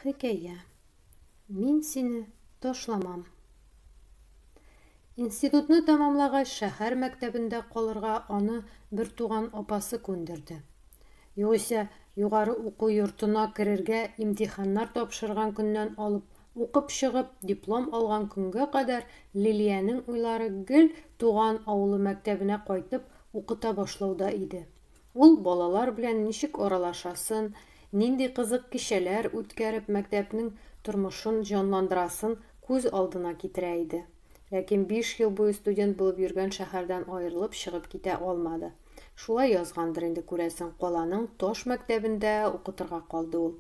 Хикәя. Мин сине ташламам. Институтны тәмамлагач, шәһәр мәктәбендә калырга аны бертуган апасы күндерде. Югыйсә, югары уку йортына керергә имтиханнар тапшырган көннән алып, укып чыгып, диплом алган көнгә кадәр Лилиянең уйлары гел туган авылы мәктәбенә кайтып укыта башлауда иде. Ул балалар белән ничек аралашасын, нинди кызык кичәләр үткәреп мәктәпнең тормышын җанландырасын күз алдына китерә иде. Ләкин биш ел буе студент булып йөргән шәһәрдән аерылып чыгып китә алмады. Шулай язгандыр инде, күрәсең, каланың таш мәктәбендә укытырга калды ул.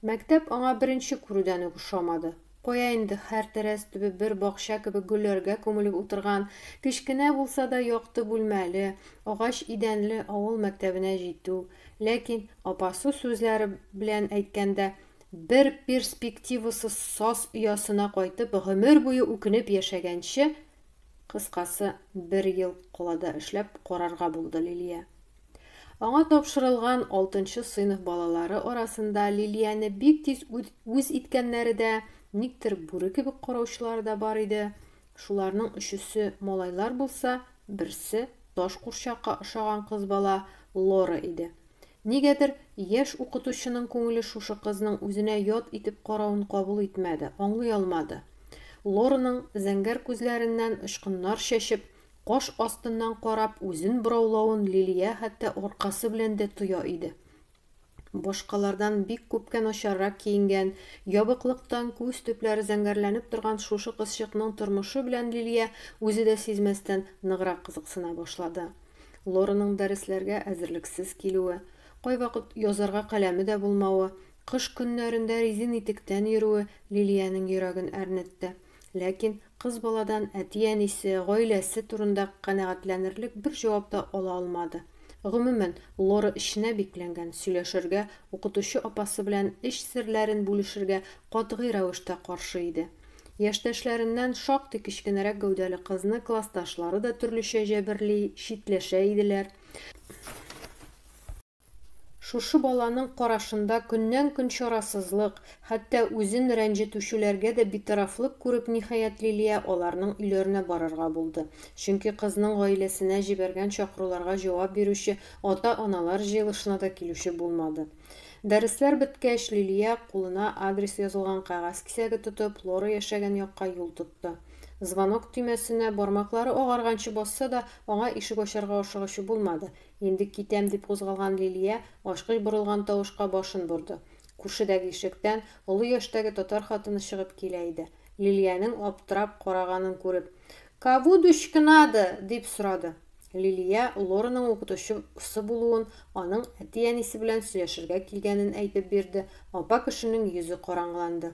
Мәктәп аңа беренче күрүдән үк ошамады. Кая инде, һәр тәрәз төбе бер бакча кебек гөлләргә күмелеп утырган, кечкенә булса да якты бүлмәле, агач идәнле авыл мәктәбенә җитү. Ләкин, апасы сүзләре белән әйткәндә, бер перспективасыз саз оясына кайтып, гомер буе үкенеп яшәгәнче, кыскасы, бер ел калада эшләп карарга булды Лилия. Аңа тапшырылган алтынчы сыйныф балалары арасында Лилияне бик тиз үз иткәннәре дә, никтер бүре кебек караучылары да бар иде. Шуларның өчесе малайлар булса, берсе, таш курчакка ошаган кыз бала Лора иде. Нигәдер, яшь укытучының күңеле шушы кызның үзенә ят итеп каравын кабул итмәде, аңлый алмады. Лораның зәңгәр күзләреннән очкыннар чәчеп, Каш астыннан карап үзен бораулавын Лилия хәтта аркасы белән дә тоя иде. Башкалардан бик күпкә начаррак киенгән, ябыклыктан күз төпләре зәңгәрләнеп торган шушы кызчыкның тормышы белән Лилия үзе дә сизмәстән ныграк кызыксына башлады. Лораның дәресләргә әзерлексез килүе, кайвакыт язарга каләме дә булмавы, кыш көннәрендә резин итектән йөрүе Лилиянең йөрәген әрнетте. Ләкин кыз баладан әти-әнисе, гаиләсе турында канәгатьләнерлек бер җавап та ала алмады. Гомумән, Лора эченә бикләнгән, сөйләшергә, укытучы апасы белән эч серләрен бүлешергә катгый рәвештә каршы иде. Яшьтәшләреннән шактый кечкенәрәк гәүдәле кызны классташлары да төрлечә җәберли, читләшә иделәр. Шушы баланың карашында көннән-көн чарасызлык, хәтта үзен рәнҗетүчеләргә дә битарафлык күреп, ниһаять, Лилия аларның өйләренә барырга булды. Чөнки кызның гаиләсенә җибәргән чакыруларга җавап бирүче ата-аналар җыелышына да килүче булмады. Дәресләр беткәч, Лилия, кулына адрес язылган кәгазь кисәге тотып, Лора яшәгән якка юл тотты. Звонок төймәсенә бармаклары агарганчы басса да, аңа ишек ачарга ашыгучы булмады. Инде китәм, дип кузгалган Лилия ачкыч борылган тавышка башын борды. Күршедәге ишектән олы яшьтәге татар хатыны чыгып килә иде. Лилиянең аптырап караганын күреп. Каву дучка надо? дип сорады. Лилия Лораның укытучы сы булуын, аның әти-әнисе белән сөйләшергә килгәнен әйтеп бирде, апа кешенең йөзе караңгыланды.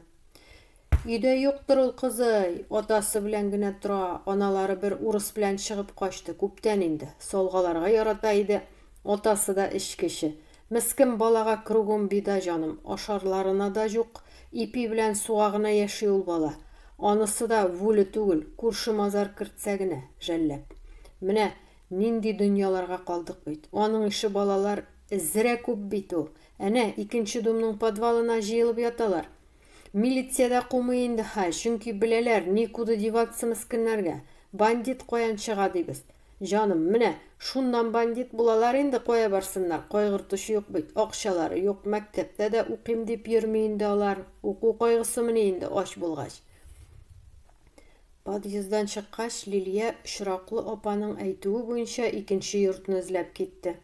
Өйдә юктыр ул кызый, атасы белән генә тора, аналары бер урыс белән чыгып качты, күптән инде. Солгаларга ярата иде, атасы да эчкече. Мескен балага кругом беда, җаным, ашарларына да җук, ипи белән суга гына яши ул бала. Анысы да вүле түгел, күрше мазар кертсә генә, жәлләп. Менә нинди дөньяларга калдык бит. Аның ише балалар зрә күп бит ул. Әнә, икенче думның подвалына җыелып яталар. Милиция дә кумый инде хәй, чөнки беләләр, никуда деваться мескеннәргә. Бандит каян чыга дибез. Җаным, менә, шуннан бандит булалар инде кая барсыннар, кайгыртучы юк бит, акчалары юк, мәктәптә дә укыйм дип йөрми инде алар, уку кайгысымыни инде ач булгач. Подъезддан чыккач, Лилия очраклы апаның әйтүе буенча икенче йортны эзләп китте.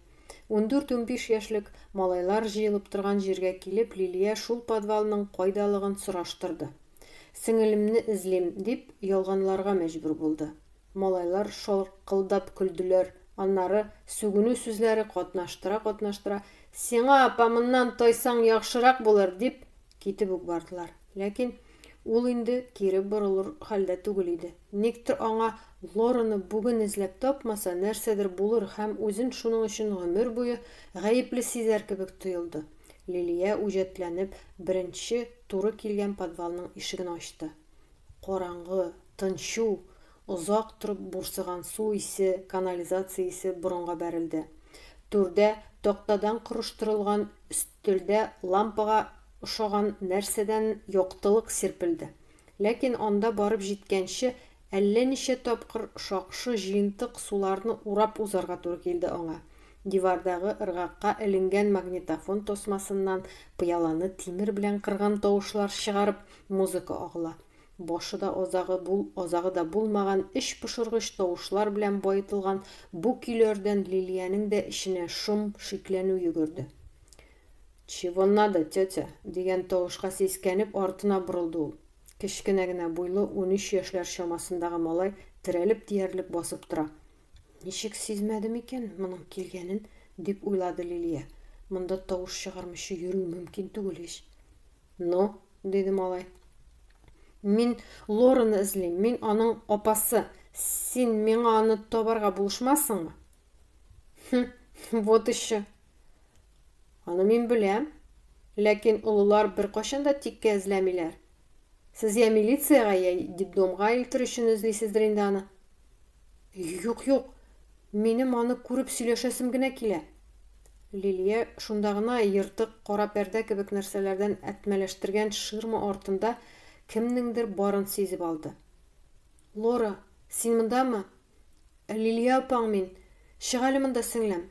Ундүрт-унбиш яшьлек малайлар җыелып торган җиргә килеп, Лилия шул подвалның кайдалыгын сораштырды. Сеңелемне эзлим, дип ялганларга мәҗбүр булды. Малайлар шаркылдап көлделәр, аннары, сүгенү сүзләре катнаштыра-катнаштыра, Сиңа, апа, моннан тайсаң яхшырак булыр, дип, Китеп үк бардылар. Ләкин ул инде кире борылыр хәлдә түгел иде. Никтер аңа Лораны бүген эзләп тапмаса, нәрсәдер булыр һәм үзен шуның өчен гомер буе гаепле сизәр кебек тоелды. Лилия үҗәтләнеп беренче туры килгән подвалның ишеген ачты. Караңгы, тынчу, озак торып бурсыган су исе, канализация исе борынга бәрелде. Түрдә, тактадан корыштырылган Тирдә лампага ошаган нәрсәдән яктылык сирпелде. Ләкин анда барып җиткәнче, әллә ничә тапкыр шакшы җыентык суларны урап узарга туры килде аңа. Дивардагы ыргакка эленгән магнитофон тасмасыннан пыяланы тимер белән кырган тавышлар чыгарып, музыка агыла. Башы да азагы бул, азагы да булмаган, эч пошыргыч тавышлар белән баетылган бу көйләрдән Лилиянең дә эченә шом, шикләнү йөгерде. Чего надо, тетя? дигән тавышка сискәнеп артына борылды ул. Кечкенә генә буйлы, унөч яшьләр чамасындагы малай терәлеп диярлек басып тора. Ничек сизмәде микән моның килгәнен? дип уйлады Лилия. Монда тавыш чыгармыйча йөрү мөмкин түгел ич. Ну, диде малай. Мин Лораны эзлим, мин аның апасы. Син миңа аны табарга булышмассыңмы? Хм, вот еще. Аны мин беләм. Ләкин олылар беркайчан да тиккә эзләмиләр. Сез я милициягә, я детдомга илтер өчен эзлисездер инде аны. Юк, юк, минем аны күреп сөйләшәсем генә килә. Лилия шунда гына ертык кара пәрдә кебек нәрсәләрдән әтмәләштергән ширма артында кемнеңдер барын сизеп алды. Лора, син мондамы? Лилия апаң мин. Чык әле монда, сеңлем.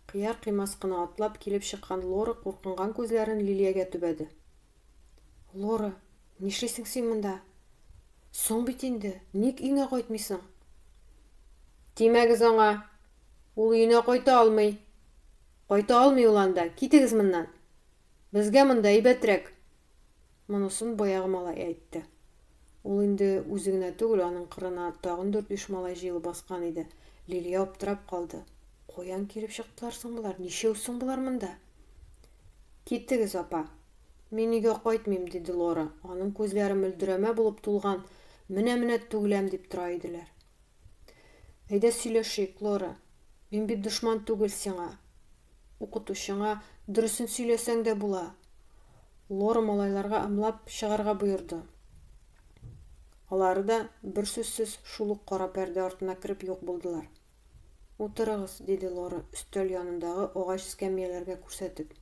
Кыяр-кыймас кына атлап килеп чыккан Лора куркынган күзләрен Лилиягә төбәде. Лора, нишлисең син монда? Соң бит инде, ник өеңә кайтмыйсың? Тимәгез аңа. Ул өенә кайта алмый. Кайта алмый ул анда. Китегез моннан. Безгә монда әйбәтрәк. Монысын баягы малай әйтте. Ул инде үзе генә түгел, аның кырына тагын дүрт-биш малай җыелып баскан иде. Лилия аптырап калды. Каян килеп чыктылар соң болар? Ничәү соң болар монда? Китегез, апа. Мин өйгә кайтмыйм, диде Лора. Аның күзләре мөлдерәмә булып тулган, менә-менә түгеләм дип тора иделәр. Әйдә сөйләшик, Лора. Мин бит дошман түгел сиңа. Укытучыңа дөресен сөйләсәң дә була. Лора малайларга ымлап чыгарга боерды. Алары да бер сүзсез шул ук кара пәрдә артына кереп юк булдылар. Утырыгыз, диде Лора, өстәл янындагы агач эскәмияләргә күрсәтеп.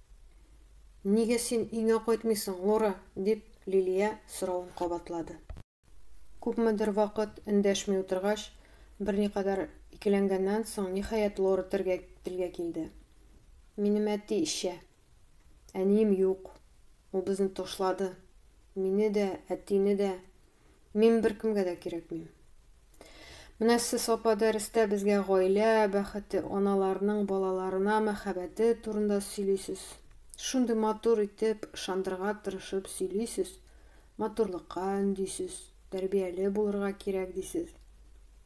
Нигә син өеңә кайтмыйсың, Лора? дип, Лилия соравын кабатлады. Күпмедер вакыт эндәшми утыргач, берникадәр икеләнгәннән соң, ниһаять, Лора телгә килде. Минем әти эчә. Әнием юк. Ул безне ташлады. Мине дә, әтине дә. Мин беркемгә дә кирәкмим. Менә сез апа дәрестә безгә гаилә бәхете, аналарның балаларына мәхәббәте турында сөйлисез. Шундый матур итеп, ышандырырга тырышып сөйлисез, матурлыкка өндисез, тәрбияле булырга кирәк дисез.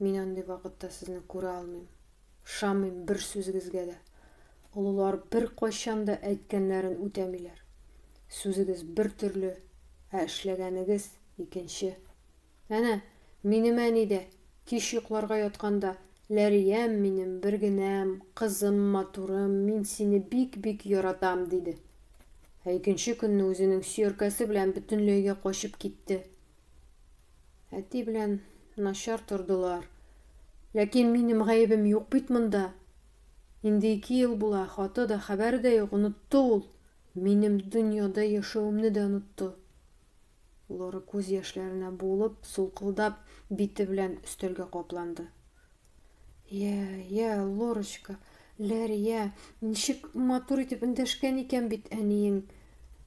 Мин андый вакытта сезне күрә алмыйм. Ышамыйм бер сүзегезгә дә. Олылар беркайчан да әйткәннәрен үтәмиләр. Сүзегез бер төрле, ә эшләгәнегез, икенче. Әнә, минем әни дә, кич йокларга ятканда, Ләриям минем, бер генәм, кызым, матурым, мин сине бик-бик яратам, диде. Ә икенче көнне үзенең сөяркәсе белән бөтенләйгә качып китте. Әти белән начар тордылар. Ләкин минем гаебем юк бит монда. Инде ике ел була, хаты да, хәбәре дә юк, онытты ул. Минем дөньяда яшәвемне дә онытты. Лора күз яшьләренә буылып, сулкылдап, бите белән өстәлгә капланды. Йә, йә, Лорочка, Ләрия, ничек матур итеп эндәшкән икән бит әниең.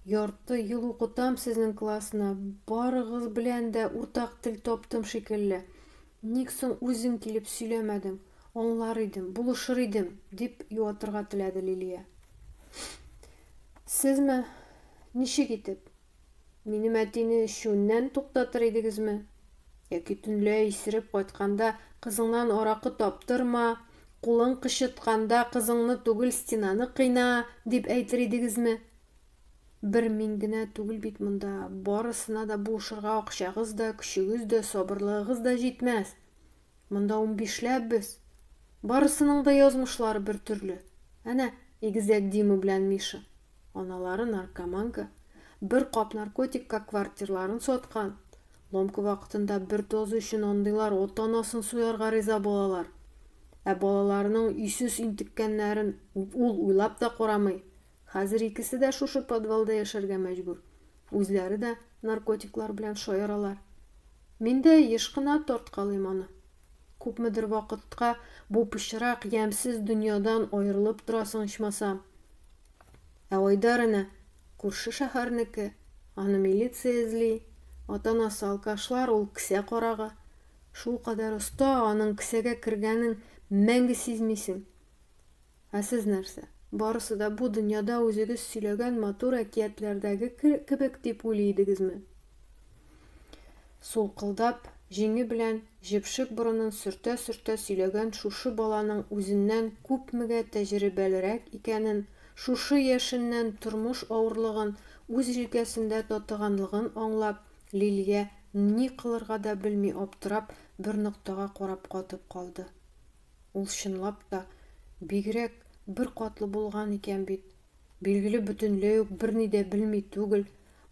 Ярты ел укытам сезнең классны, барыгыз белән дә уртак тел таптым шикелле. Ник соң үзең килеп сөйләмәдең, аңлар идем, булышыр идем, дип юатырга теләде Лилия. Сезме? Ничек итеп? Минем әтине эчүеннән туктатыр идегезме? Яки төнлә исереп кайтканда кызыңнан аракы таптырма, кулың кычытканда кызыңны түгел, стенаны кыйна, дип әйтер идегезме? Бер мин генә түгел бит монда, барысына да булышырга акчагыз да, көчегез дә, сабырлыгыгыз да җитмәс. Монда унбишләп без. Барысының да язмышлары бер төрле. Әнә, игезәк Дима белән Миша. Аналары наркоманка. Бер кап наркотикка квартирларын саткан. Ломка вакытында бер доза өчен андыйлар ата-анасын суярга риза булалар. Ә балаларының өйсез интеккәннәрен ул уйлап та карамый. Хәзер икесе дә шушы подвалда яшәргә мәҗбүр. Үзләре дә наркотиклар белән шаяралар. Мин дә еш кына тарткалыйм аны. Күпмедер вакытка бу пычрак, ямьсез дөньядан аерылып торасың ичмасам. Ә Айдар әнә, күрше шәһәрнеке, аны милиция эзли, ата-анасы алкашлар, ул кесә карагы. Шулкадәр оста, аның кесәгә кергәнен мәңге сизмисең. Ә сез нәрсә, барысы да бу дөньяда үзегез сөйләгән матур әкиятләрдәге кебек дип уйлый идегезме? Сулкылдап, җиңе белән җепшек борынын сөртә-сөртә сөйләгән шушы баланың үзеннән күпмегә тәҗрибәлерәк икәнен, шушы яшеннән тормыш авырлыгын үз җилкәсендә татыганлыгын аңлап, Лилия, ни кылырга да белми аптырап, бер ноктага карап катып калды. Ул чынлап та бигрәк бер катлы булган икән бит. Билгеле, бөтенләй үк берни дә белми түгел.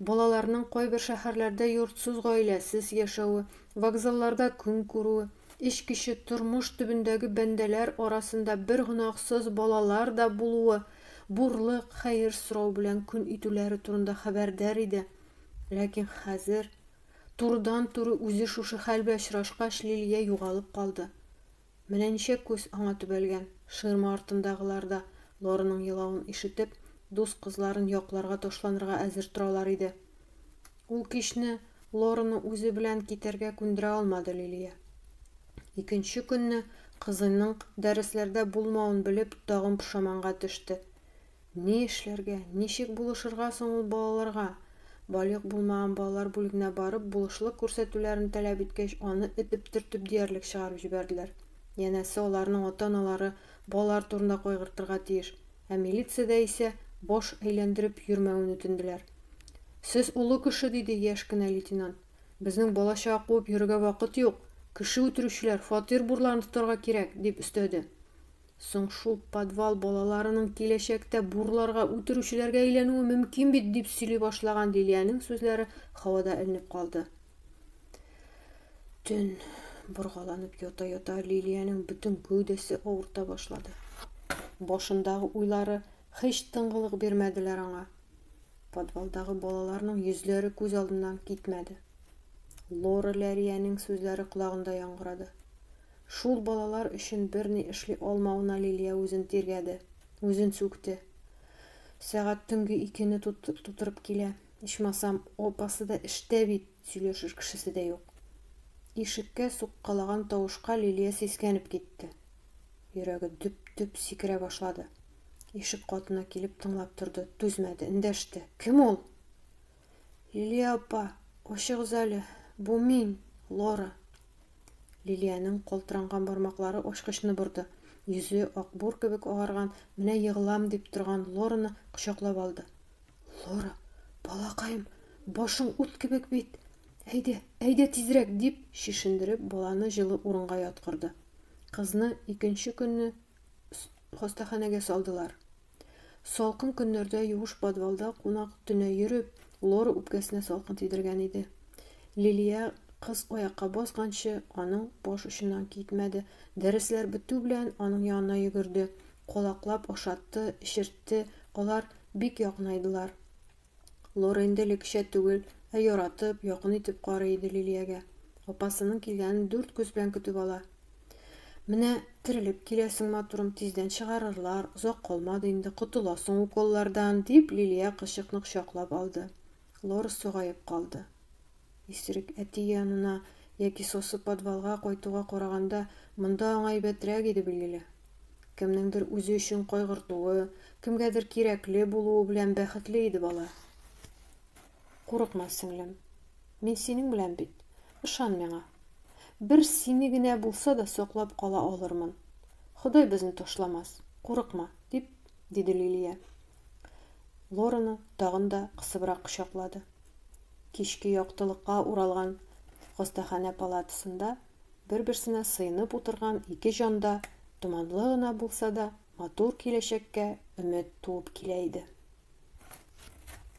Балаларның кайбер шәһәрләрдә йортсыз-гаиләсез яшәве, вокзалларда көн күрүе, эч кече, тормыш төбендәге бәндәләр арасында бер гөнаһсыз балалар да булуы, бурлык, хәер сорау белән көн итүләре турында хәбәрдар иде. Ләкин хәзер Турыдан-туры үзе шушы хәл белән очрашкач, Лилия югалып калды. Менә ничә күз аңа төбәлгән, ширма артындагылар да, Лораның елавын ишетеп, дус кызларын якларга ташланырга әзер торалар иде. Ул кичне Лораны үзе белән китәргә күндерә алмады Лилия. Икенче көнне, кызының дәресләрдә булмавын белеп, тагын пошаманга төште. Ни эшләргә, ничек булышырга соң ул балаларга? Балигъ булмаган балалар бүлегенә барып, булышлык күрсәтүләрен таләп иткәч, аны этеп-төртеп диярлек чыгарып җибәрделәр. Янәсе, аларның ата-аналары балалар турында кайгыртырга тиеш. Ә милициядә исә баш әйләндереп йөрмәвен үтенделәр. Сез олы кеше, диде яшь кенә лейтенант. Безнең бала-чага куып йөрергә вакыт юк. Кеше үтерүчеләр фатир бурларын тотарга кирәк, дип өстәде. Соң шул подвал балаларының киләчәктә бурларга, үтерүчеләргә әйләнүе мөмкин бит, дип сөйли башлаган Лилиянең сүзләре һавада элнеп калды. Төн боргаланып ята-ята Лилиянең бөтен гәүдәсе авырта башлады. Башындагы уйлары һич тынгылык бирмәделәр аңа. Подвалдагы балаларның йөзләре күз алдыннан китмәде. Лора Ләриянең сүзләре колагында яңгырады. Шул балалар өчен берни эшли алмавына Лилия үзен тиргәде. Үзен сүкте. Сәгать төнге икене тутырып килә. Ичмасам, апасы да эштә бит, сөйләшер кешесе дә юк. Ишеккә суккалаган тавышка Лилия сискәнеп китте. Йөрәге дөп-дөп сикерә башлады. Ишек катына килеп тыңлап торды, түзмәде, эндәште. Кем ул? Лилия апа, ачыгыз әле, бу мин, Лора. Лилиянең калтыранган бармаклары ачкычны борды. Йөзе акбур кебек агарган, менә егылам дип торган Лораны кочаклап алды. Лора, балакаем, башың ут кебек бит. Әйдә, әйдә тизрәк, дип чишендереп, баланы җылы урынга яткырды. Кызны икенче көнне хастаханәгә салдылар. Салкын көннәрдә юеш подвалда кунак төнә йөреп, Лора үпкәсенә салкын тидергән иде. Лилия кыз аякка басканчы, аның баш очыннан китмәде. Дәресләр бетү белән, аның янына йөгерде, колаклап ашатты, эчертте, алар бик якынайдылар. Лора инде элеккечә түгел, ә яратып, якын итеп карый иде Лилиягә. Апасының килгәнен дүрт күз белән көтеп ала. Менә терелеп киләсең, матурым, тиздән чыгарырлар, озак калмады инде, котыласың уколлардан, дип, Лилия кычыкны кочаклап алды. Лора согаеп калды. Исерек әти янына яки сосы подвалга кайтуга караганда, монда аңа әйбәтрәк иде, билгеле. Кемнеңдер үзе өчен кайгыртуы, кемгәдер кирәкле булуы белән бәхетле иде бала. Курыкма, сеңлем. Мин синең белән бит. Ышан миңа. Бер сине генә булса да саклап кала алырмын. Ходай безне ташламас. Курыкма, дип, диде Лилия. Лораны тагын да кысыбрак кочаклады. Кичке яктылыкка уралган хастаханә палатасында бер-берсенә сыенып утырган ике җанда томанлы гына булса да матур киләчәккә өмет туып килә иде.